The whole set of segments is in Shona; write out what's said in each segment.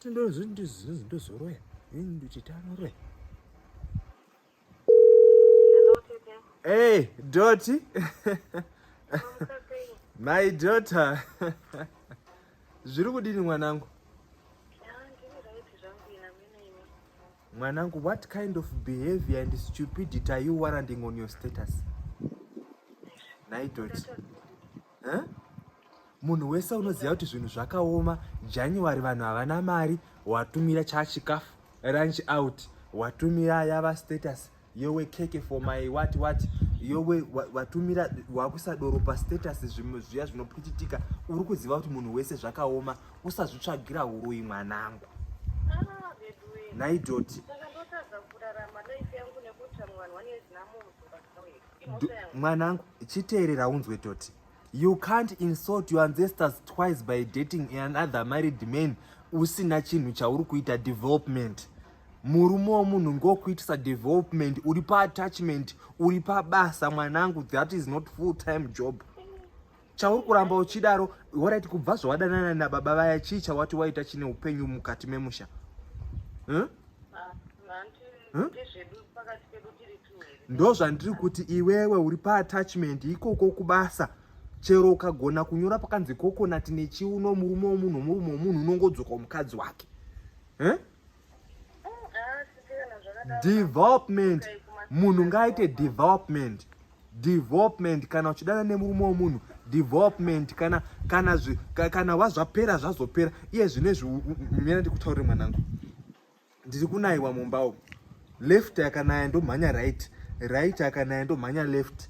ndozoroya ndichitanoroya Hey, Dotty. My daughter. Zviri kudini mwanangu? Mwanangu, what kind of behavior and stupidity are you warranting on your status? Nai Dotty. Huh? Munhu wese unoziva kuti zvinhu zvakaoma January vanhu havana mari watumira chachikafu ranch out watumira yava status yowe keke for my what what yowe watumira wakusadoro pa status zvimwe zviya zvinopwititika uri kuziva kuti munhu wese zvakaoma usazvitsvagira huroyi mwanangu naidoti mwanangu chiteerera unzwe toti You can't insult your ancestors twice by dating another married man usina chinhu chauri kuita development. Murume womunhu ngokuitisa development, uri pa attachment, uri pabasa mwanangu, that is not full time job. Chauri kuramba uchidaro, waraiti kubva zvawadanana nababa vaya chii chawati waita chine upenyu mukati memusha? Huh? Ah, ndozvandiri kuti iwewe uri paatachment ikoko kubasa chero ukagona kunyora pakanzi kokonati nechiuno murume womunhu murume womunhu unongodzoka mukadzi wake eh? development munhu ngaaite development development kana uchidana nemurume womunhu development kana kana kana wazvapera zvazopera iye zvine zviunyana ndikutaurire mwanangu ndiri kunaiwa mumba umu left akanaya ndomhanya right right akanaya ndomhanya left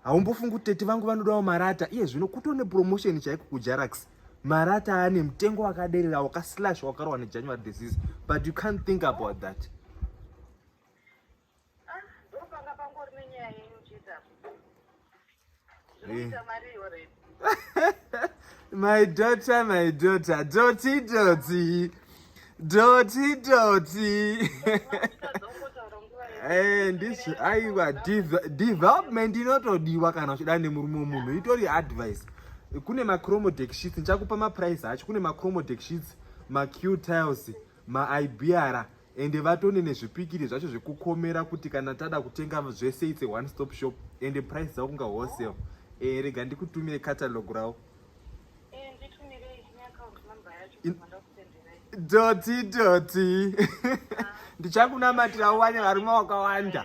haumbofungi kuti tete vangu vanodawo marata iye zvino kuto nepromotion chaiko kujarax marata ane mutengo wakaderera wakaslash wakarohwa nejanuary disease but you can't think about that Ah, ndopanga pangori nenyaya yenyu chete apo. Zvinoita mari already. my daughter my daughter doti doti doti doti Eh, ndizvo aiwa div- development inotodiwa kana uchida nemurume wemunhu itori advice kune macromodex sheets ndichakupa maprice acho kune macromodex sheets macu tiles maibiara ende vatone nezvipikiri zvacho zvekukomera kuti kana tada kutenga zvese its a one stop shop ende price dzavo kunga wholesale e, rega ndikutumire catalog ravo doti doti ndichakunamatira uwane varume wakawanda